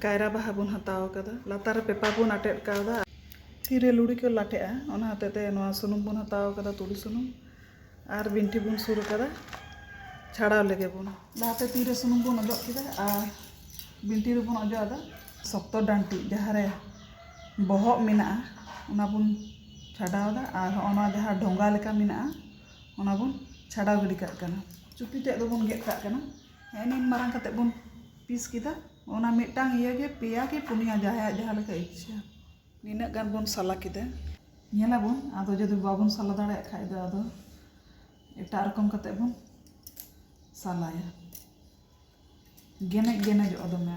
ᱠᱟᱭᱨᱟ ᱵᱟᱦᱟ ᱵᱚᱱ ᱦᱟᱛᱟᱣ ᱟᱠᱟᱫᱟ ᱞᱟᱛᱟᱨ ᱨᱮ ᱯᱮᱯᱟᱨ ᱵᱚᱱ ᱟᱴᱮᱫ ᱠᱟᱣᱫᱟ ᱛᱤ ᱨᱮ ᱞᱩᱲᱤ ᱠᱚ ᱞᱟᱴᱷᱮᱜᱼᱟ ᱚᱱᱟ ᱦᱚᱛᱮᱡ ᱛᱮ ᱱᱚᱣᱟ ᱥᱩᱱᱩᱢ ᱵᱚᱱ ᱦᱟᱛᱟᱣ ᱟᱠᱟᱫᱟ ᱛᱩᱲᱤ ᱥᱩᱱᱩᱢ ᱟᱨ ᱵᱤᱱᱴᱷᱤ ᱵᱚᱱ ᱥᱩᱨ ᱟᱠᱟᱫᱟ ᱪᱷᱟᱲᱟᱣ ᱞᱮᱜᱮ ᱵᱚᱱ ᱞᱟᱦᱟᱛᱮ ᱛᱤ ᱨᱮ ᱥᱩᱱᱩᱢ ᱵᱚᱱ ᱚᱡᱚᱜ ᱠᱮᱫᱟ ᱟᱨ ᱵᱤᱱᱴᱷᱤ ᱨᱮᱵᱚᱱ ᱚᱡᱚᱜ ᱟᱫᱟ ᱥᱚᱠᱛᱚ ᱰᱟᱱᱴᱤ ᱡᱟᱦᱟᱸ ᱨᱮ ᱵᱚᱦᱚᱜ ᱢᱮᱱᱟᱜᱼᱟ ᱚᱱᱟ ᱵᱚᱱ ᱪᱷᱟᱰᱟᱣ ᱮᱫᱟ ᱟᱨ ᱦᱚᱸᱜᱼᱚ ᱱᱚᱣᱟ ᱡᱟᱦᱟᱸ ᱰᱷᱚᱸᱜᱟ ᱞᱮᱠᱟ ᱢᱮᱱᱟᱜᱼᱟ ᱚᱱᱟ ᱵᱚᱱ ᱪᱷᱟᱰᱟᱣ ᱜᱤᱰᱤ ᱠᱟᱜ ᱠᱟᱱᱟ ᱪᱩᱯᱤ ᱛᱮᱫ ᱫᱚᱵᱚᱱ ᱜᱮᱫ ᱠᱟᱜ ᱠᱟᱱᱟ ᱱᱤᱱ ᱢᱟᱨᱟᱝ ᱠᱟᱛᱮ ᱵᱚᱱ ᱯᱤᱥ ᱠᱮᱫᱟ ᱚᱱᱟ ᱢᱤᱫᱴᱟᱝ ᱤᱭᱟᱹ ᱜᱮ ᱯᱮᱭᱟ ᱠᱤ ᱯᱩᱱᱭᱟ ᱡᱟᱦᱟᱸᱭᱟᱜ ᱡᱟᱦᱟᱸ ᱞᱮᱠᱟ ᱤᱪᱪᱷᱟᱹ ᱱᱤᱱᱟᱹᱜ ᱜᱟᱱ ᱵᱚᱱ ᱥᱟᱞᱟ ᱠᱮᱫᱟ ᱧᱮᱞ ᱟᱵᱚᱱ ᱟᱫᱚ ᱡᱩᱫᱤ ᱵᱟᱵᱚᱱ ᱥᱟᱞᱟ ᱫᱟᱲᱮᱭᱟᱜ ᱠᱷᱟᱡ ᱫᱚ ᱟᱫᱚ ᱮᱴᱟᱜ ᱨᱚᱠᱚᱢ ᱠᱟᱛᱮ ᱵᱚᱱ ᱥᱟᱞᱟᱭᱟ ᱜᱮᱱᱮᱡ ᱜᱮᱱᱮᱡᱚᱜᱼᱟ ᱫᱚᱢᱮ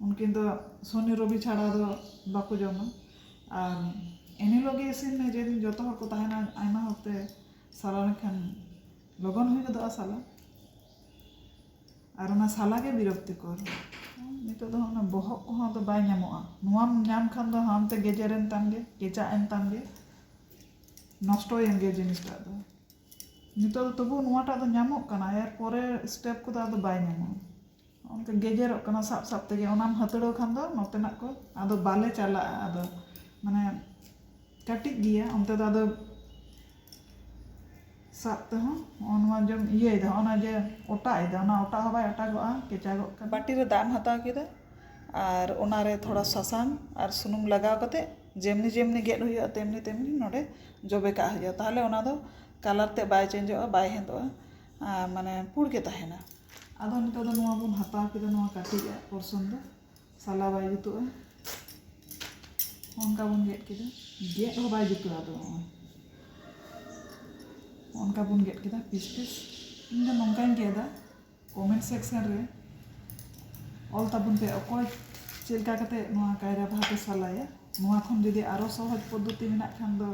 ᱩᱱᱠᱤᱱ ᱫᱚ ᱥᱚᱱᱤ ᱨᱚᱵᱤ ᱪᱷᱟᱲᱟ ᱫᱚ ᱵᱟᱠᱚ ᱡᱚᱢᱟ ᱟᱨ ᱮᱱ ᱦᱤᱞᱳᱜ ᱜᱮ ᱤᱥᱤᱱ ᱢᱮ ᱡᱮᱫᱤᱱ ᱡᱚᱛᱚ ᱦᱚᱲ ᱠᱚ ᱛᱟᱦᱮᱱᱟ ᱟᱭᱢᱟ ᱦᱚᱲ ᱛᱮ ᱥᱟᱞᱟ ᱞᱮᱱᱠᱷᱟᱱ ᱞᱚᱜᱚᱱ ᱦᱩᱭ ᱜᱚᱫᱚᱜᱼᱟ ᱥᱟᱞᱟ ᱟᱨ ᱚᱱᱟ ᱥᱟᱞᱟ ᱜᱮ ᱵᱤᱨᱚᱠᱛᱤᱠᱚᱨ ᱱᱤᱛᱚᱜ ᱫᱚ ᱚᱱᱟ ᱵᱚᱦᱚᱜ ᱠᱚᱦᱚᱸ ᱟᱫᱚ ᱵᱟᱭ ᱧᱟᱢᱚᱜᱼᱟ ᱱᱚᱣᱟᱢ ᱧᱟᱢ ᱠᱷᱟᱱ ᱫᱚ ᱦᱟᱱᱛᱮ ᱜᱮᱡᱮᱨ ᱮᱱ ᱛᱟᱢ ᱜᱮ ᱠᱮᱪᱟᱜ ᱮᱱ ᱛᱟᱢ ᱜᱮ ᱱᱚᱥᱴᱚᱭᱮᱱ ᱜᱮ ᱡᱤᱱᱤᱥᱴᱟᱜ ᱫᱚ ᱱᱤᱛᱚᱜ ᱫᱚ ᱛᱚᱵᱩ ᱱᱚᱣᱟᱴᱟᱜ ᱫᱚ ᱧᱟᱢᱚᱜ ᱠᱟᱱᱟ ᱮᱨ ᱯᱚᱨᱮ ᱥᱴᱮᱯ ᱠᱚᱫᱚ ᱟᱫᱚ ᱵᱟᱭ ᱧᱟᱢᱚᱜᱼᱟ ᱚᱱᱠᱟ ᱜᱮᱡᱮᱨᱚᱜ ᱠᱟᱱᱟ ᱥᱟᱵ ᱥᱟᱵ ᱛᱮᱜᱮ ᱚᱱᱟᱢ ᱦᱟᱹᱛᱲᱟᱹᱣ ᱠᱷᱟᱱ ᱫᱚ ᱱᱚᱛᱮᱱᱟᱜ ᱠᱚ ᱟᱫᱚ ᱵᱟᱞᱮ ᱪᱟᱞᱟᱜᱼᱟ ᱟᱫᱚ ᱢᱟᱱᱮ ᱠᱟᱹᱴᱤᱡ ᱜᱮᱭᱟ ᱚᱱᱛᱮ ᱫᱚ ᱟᱫᱚ ᱥᱟᱵ ᱛᱮᱦᱚᱸ ᱱᱚᱜᱼᱚ ᱱᱚᱣᱟ ᱡᱮᱢ ᱤᱭᱟᱹᱭᱮᱫᱟ ᱱᱚᱜᱼᱚ ᱱᱚᱣᱟ ᱡᱮ ᱚᱴᱟᱜ ᱮᱫᱟ ᱚᱱᱟ ᱚᱴᱟᱜ ᱦᱚᱸ ᱵᱟᱭ ᱚᱴᱟᱜᱚᱜᱼᱟ ᱠᱮᱪᱟᱜᱚᱜ ᱠᱟᱱᱟ ᱵᱟᱹᱴᱤ ᱨᱮ ᱫᱟᱜ ᱮᱢ ᱦᱟᱛᱟᱣ ᱠᱮᱫᱟ ᱟᱨ ᱚᱱᱟ ᱨᱮ ᱛᱷᱚᱲᱟ ᱥᱟᱥᱟᱝ ᱟᱨ ᱥᱩᱱᱩᱢ ᱞᱟᱜᱟᱣ ᱠᱟᱛᱮᱫ ᱡᱮᱢᱱᱤ ᱡᱮᱢᱱᱤ ᱜᱮᱫ ᱦᱩᱭᱩᱜᱼᱟ ᱛᱮᱢᱱᱤ ᱛᱮᱢᱱᱤ ᱱᱚᱸᱰᱮ ᱡᱚᱵᱮ ᱠᱟᱜ ᱦᱩᱭᱩᱜᱼᱟ ᱛᱟᱦᱚᱞᱮ ᱚᱱᱟ ᱫᱚ ᱠᱟᱞᱟᱨ ᱛᱮᱫ ᱵᱟᱭ ᱪᱮᱧᱡᱚᱜᱼᱟ ᱵᱟᱭ ᱦᱮᱸᱫᱮᱜᱼᱟ ᱢᱟᱱᱮ ᱯᱩᱬ ᱜᱮ ᱛᱟᱦᱮᱱᱟ ᱟᱫᱚ ᱱᱤᱛᱚᱜ ᱫᱚ ᱱᱚᱣᱟ ᱵᱚᱱ ᱦᱟᱛᱟᱣ ᱠᱮᱫᱟ ᱱᱚᱣᱟ ᱠᱟᱹᱴᱤᱡ ᱟᱜ ᱯᱚᱨᱥᱚᱱ ᱫᱚ ᱥᱟᱞᱟ ᱵᱟᱭ ᱡᱩᱛᱩᱜᱼᱟ ᱚᱱᱠᱟ ᱵᱚᱱ ᱜᱮᱫ ᱠᱮᱫᱟ ᱜᱮᱫ ᱦᱚᱸ ᱵᱟᱭ ᱡᱩᱛᱩᱜᱼᱟ ᱟᱫᱚ ᱚᱱᱠᱟ ᱵᱚᱱ ᱜᱮᱫ ᱠᱮᱫᱟ ᱯᱤᱥ ᱯᱤᱥ ᱤᱧ ᱫᱚ ᱱᱚᱝᱠᱟᱧ ᱜᱮᱫᱟ ᱠᱚᱢᱮᱱᱴ ᱥᱮᱠᱥᱮᱱ ᱨᱮ ᱚᱞ ᱛᱟᱵᱚᱱ ᱯᱮ ᱚᱠᱚᱭ ᱪᱮᱫ ᱞᱮᱠᱟ ᱠᱟᱛᱮᱫ ᱱᱚᱣᱟ ᱠᱟᱭᱨᱟ ᱵᱟᱦᱟ ᱯᱮ ᱥᱟᱞᱟᱭᱟ ᱱᱚᱣᱟ ᱠᱷᱚᱱ ᱡᱩᱫᱤ ᱟᱨᱚ ᱥᱚᱦᱚᱡᱽ ᱯᱚᱫᱽᱫᱷᱚᱛᱤ ᱢᱮᱱᱟᱜ ᱠᱷᱟᱱ ᱫᱚ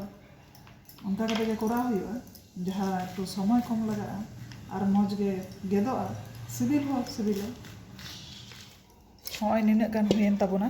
ᱚᱱᱠᱟ ᱠᱟᱛᱮ ᱜᱮ ᱠᱚᱨᱟᱣ ᱦᱩᱭᱩᱜᱼᱟ ᱡᱟᱦᱟᱸ ᱮᱠᱴᱩ ᱥᱚᱢᱚᱭ ᱠᱚᱢ ᱞᱟᱜᱟᱜᱼᱟ ᱟᱨ ᱢᱚᱡᱽ ᱜᱮ ᱜᱮᱫᱚᱜᱼᱟ ᱥᱤᱵᱤᱞ ᱦᱚᱸ ᱥᱤᱵᱤᱞᱟ ᱱᱚᱜᱼᱚᱭ ᱱᱤᱱᱟᱹᱜ ᱜᱟᱱ ᱦᱩᱭᱮᱱ ᱛᱟᱵᱚᱱᱟ